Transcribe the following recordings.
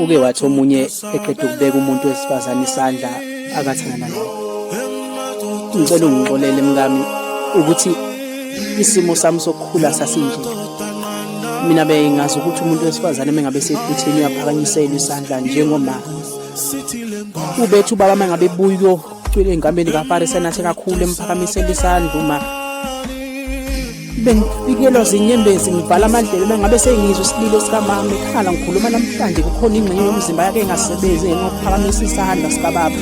uke wathi omunye eqeda ukubeka umuntu wesifazane isandla akathanda naye ngicela ungixolele mkami ukuthi isimo sami sokukhula sasinje mina bengazi ukuthi umuntu wesifazane mengabe seduthini uyaphakanyisela isandla njengoma ubethu baba mengabe buyo cwile enkambeni kaFarisa nathi kakhulu emphakamisela isandla uma bengifikelwa zinyembezi ngivala amadlebe uma ngabe sengizwa isililo sikamama ekhala ngikhuluma namhlanje kukhona ingxenye yomzimba yakhe engasebenzi ngokuphakamisa isandla sikababa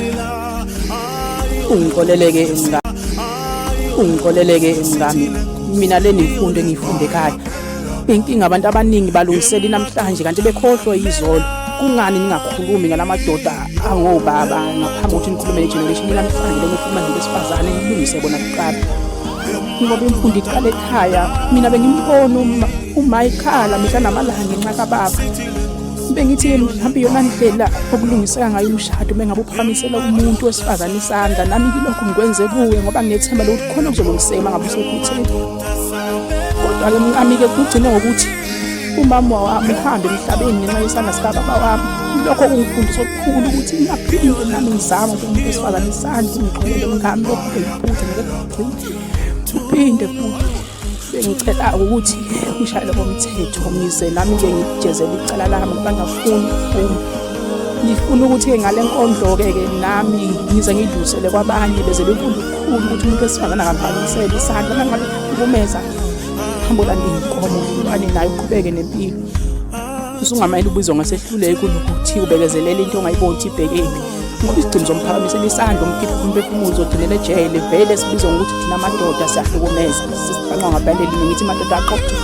ungikoleleke ingane ungikoleleke ingane mina le nemfundo engiyifunde ekhaya inkinga abantu abaningi balungiseli namhlanje kanti bekhohlwa izolo kungani ningakhulumi ngalamadoda angobaba ngaphambi kokuthi nikhulume ne-generation namhlanje lomufumane besifazane nilungise bona kuqala ngoba imfundo iqala ekhaya mina bengimbona uma ikhala mihla namalanga ngenxa kababa bengithi mhlawumbe iyona ndlela okulungiseka ngayo umshado uma ngabe uphakamisela umuntu wesifazane isandla nami ngilokhu ngikwenze kuwe ngoba nginethemba lokuthi khona okuzolungiseka uma ngabe usephutheni kodwa-ke mkami-ke kugcine ngokuthi umama wami uhambe emhlabeni ngenxa yesandla sikababa wami lokho kungifundisa okukhulu ukuthi ngingaphinde nami ngizame ukuthi umuntu wesifazane isandla ungixolele mkami lokhu bengiphuthe Uphinde bengicela ukuthi ushayele komthetho ngize nami ke ngijezele icala lami ngoba ngafuni uma ngifuna ukuthi ngale nkondlo-ke ke nami ngize ngidlulisele kwabanye beze befunda ukukhulu ukuthi umuntu wesifazane akaphakamisele isandla nangabe ukumeza hambolanda iy'nkomo ane naye uqhubeke nempilo usungamele ubizwa ngasehluleki unokuthi ubekezelela into ongayiboni ukuthi ibhekephi ngoba isigcino somphakamisela isandla umkhipha umphefumulo uzogcinela ejele vele sibizwa ngokuthi thina amadoda siyahlukumeza sisiqanqa ngabhande elinye ngithi madoda aqoqe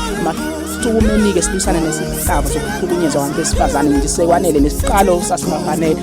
sukumunike silwisane nesihlava sokuhlukunyezwa abantu besifazane nje sekwanele nesiqalo sasimafanele